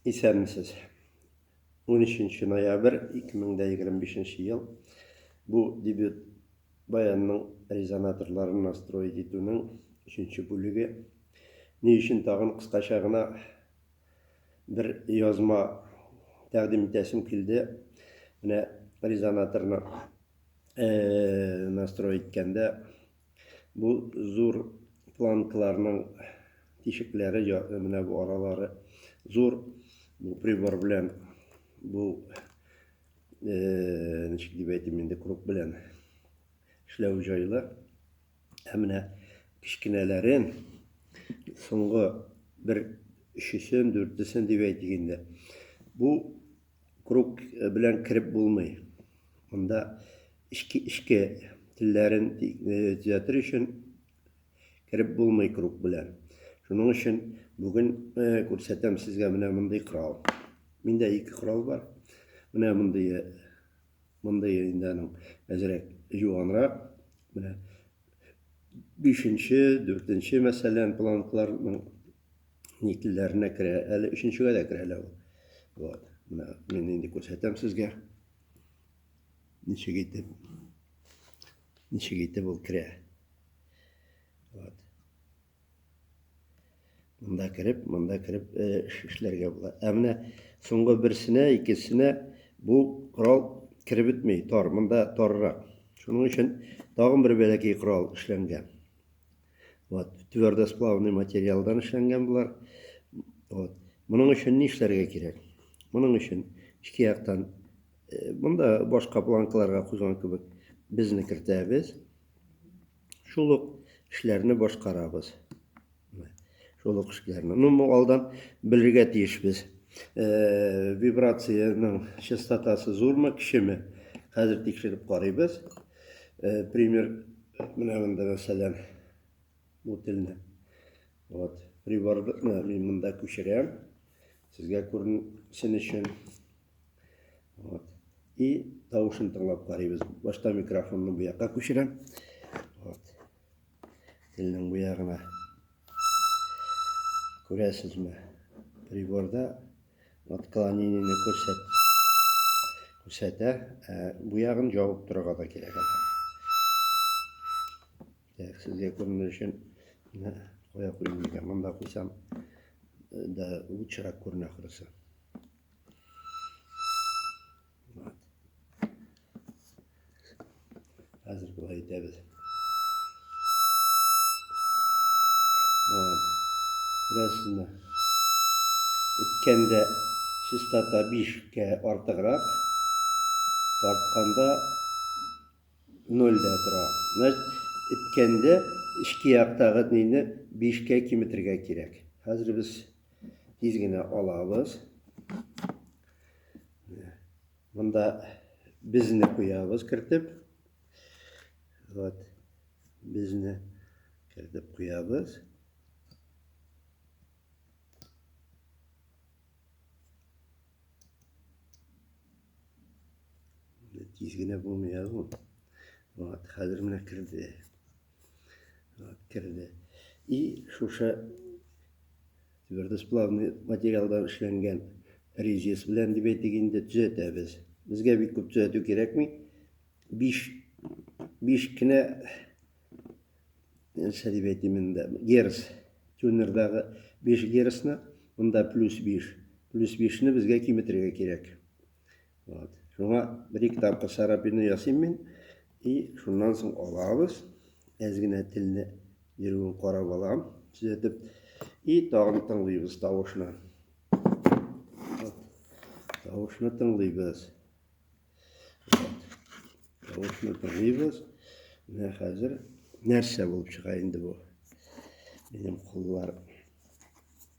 Исәнмесез. 13 ноябрь 2025 ел бу дебют баянның резонаторларын настроить итүнең өченче бүлеге. Ни өчен тагын кыскача гына бер язма тәкъдим итәсем килде. Менә резонаторны настрой иткәндә Бу зур планкаларның тишекләре менә бу аралары зур бу прибор белән бу э, ничек дип әйтим инде круг белән эшләү җайлы ә менә кечкенәләрен соңгы бер өчесен дүртесен дип әйтик инде бу Круг белән кереп булмый. Монда эчке эчке телләрен төзәтер өчен кереп булмый круг белән. Шуның өчен бүген күрсәтәм сезгә менә мондый корал. Миндә ике корал бар. Менә мондый мондый инде аның әзрәк юанрак. Менә бишенче, дүртенче мәсәлән планкларның ни телләренә керә, әле өченчегә дә керә лә ул. Вот. Менә мин инде күрсәтәм сезгә. Ничек итеп ничек итеп ул керә. Вот. Монда кереп, монда кереп э, эшләргә була. Ә менә соңгы берсенә, икесенә бу корал кереп бетмей, тар, монда тарырак. Шуның өчен тагын бер бәләкәй корал эшләнгән. Вот, твердосплавный материалдан эшләнгән болар. Вот. Моның өчен ни эшләргә кирәк? Моның өчен ике яктан э, монда башка планкаларга куйган кебек безне кертәбез. Шул ук эшләрне башкарабыз. Шул ук эшләрне. Ну, бу алдан белергә тиешбез. Э, вибрациянең частотасы зурмы, кичеме? Хәзер тикшереп карыйбыз. Э, пример, менә монда мәсәлән, бу телне. Вот, приборны мин монда күчерәм. Сезгә күренсен өчен. Вот. И тавышын тыңлап карыйбыз. Башта микрофонны бу якка күчерәм. Вот. Телнең бу ягына. Күрәсезме? Приборда Отклонениене күрсәт күрсәтә. Ә бу ягын җавып торырга да кирәк әле. Так, сезгә күренер өчен кая куйдым микән? Монда куйсам да лучшерак күренә хөресе. Хәзер болай итәбез. Вот. Күрәсезме? Иткәндә чистота 5-кә артыграк, тартканда 0 да тора. Значит, иткәндә эчке яктагы нейне 5-кә киметергә кирәк. Хәзер без тиз генә алабыз. Монда безне куябыз кертеп. Вот. Безне кертеп куябыз. Тиз генә булмый язу. Вот, хәзер менә керде. Вот, керде. И шушы Твердосплавный материалдан эшләнгән резец белән дип әйтик инде, төзәтәбез. Безгә бик күп төзәтү кирәкми. Биш, биш кенә, нәрсә дип әйтим инде, герц, тюнердагы биш герцны, монда плюс биш. Плюс бишне безгә киметергә кирәк. Вот. Шуңа бер-ике тапкыр сарапины ясыйм мин. И шуннан соң алабыз. Әз генә телне йөрүен карап алам, төзәтеп. И тагын тыңлыйбыз тавышны. Вот. Тавышны тыңлыйбыз. Вот. Тавышны тыңлыйбыз. Менә хәзер нәрсә булып чыга инде бу? Минем куллар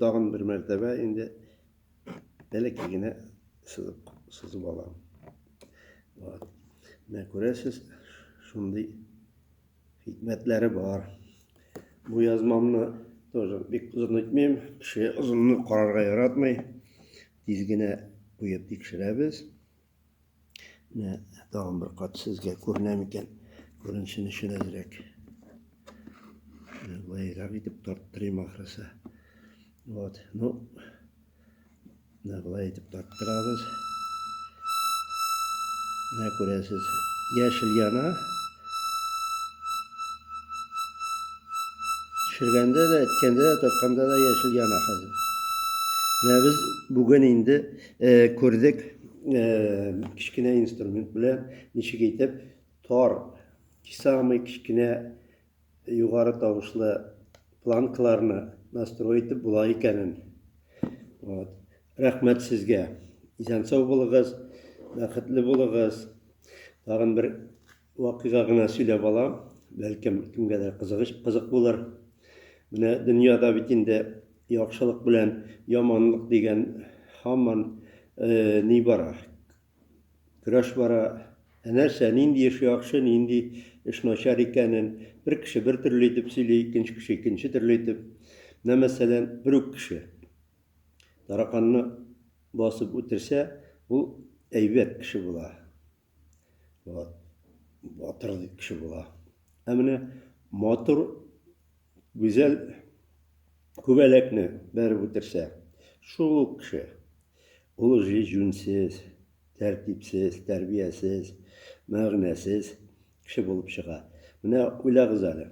Тагын бер мәртәбә инде бәләкәй генә сызык сызып алам. Вот. Менә күрәсез, шундый хикмәтләре бар. Бу язмамны тоже бик озын итмим. Кеше озынны карарга яратмый. Тиз генә куеп тикшерәбез. Менә тагын бер кат сезгә күренә микән? Күренсен өчен әзрәк. Былайрак итеп тарттырыйм ахрысы. Вот, ну, менә былай итеп тарттырабыз. Менә күрәсез, яшел яна. Төшергәндә дә, әткәндә дә, тартканда да яшел яна хәзер. Менә без бүген инде Э, күрдек э, кечкенә инструмент белән ничек итеп тар самый кечкенә югары тавышлы планкаларны настрой итеп була икәнен вот. рәхмәт сезгә исән сау булыгыз бәхетле булыгыз тагын бер Вакыйга гына сөйләп алам, бәлкем, кемгәдер кызыгыч, кызык булыр. Менә дөньяда бит инде яхшылык белән яманлык дигән һаман ни бара, көрәш бара. Ә нәрсә, нинди эш яхшы, нинди эш начар икәнен бер кеше бер төрле итеп сөйли, икенче кеше икенче төрле итеп. Менә, мәсәлән, бер үк кеше тараканны басып үтерсә, ул әйбәт кеше була. Вот. Батыр кеше була. Ә менә матур, гүзәл күбәләкне бәреп үтерсә, шул ук кеше. Ул уже җүнсез, тәртипсез, тәрбиясез, мәгънәсез кеше булып чыга. Менә уйлагыз әле.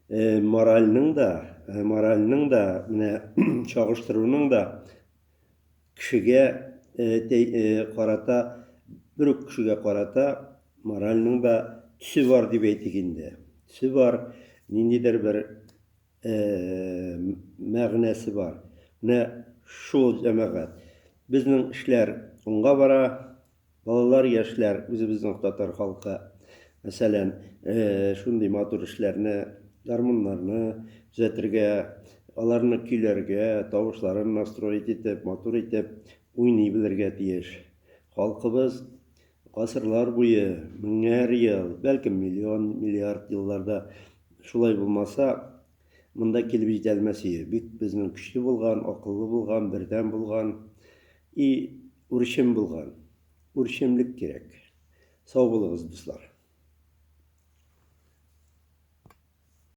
Э, моральның да, э, моральның да, менә чагыштыруның да Кешегә карата, бер үк кешегә карата моральның да төсе бар дип әйтик инде. Төсе бар, ниндидер бер мәгънәсе бар. Менә шул җәмәгать. Безнең эшләр уңга бара, Балалар, яшьләр, үзебезнең татар халкы, мәсәлән, шундый матур эшләрне, гармуннарны төзәтергә, аларны көйләргә, тавышларын настроить итеп, матур итеп уйный белергә тиеш. Халкыбыз гасырлар буе, меңәр ел, бәлкем миллион, миллиард елларда шулай булмаса, монда килеп җитә алмас иде. Бик безнең көчле булган, акыллы булган, бердәм булган. И үрчем булган, үрчемлек кирәк. Сау булыгыз, дуслар.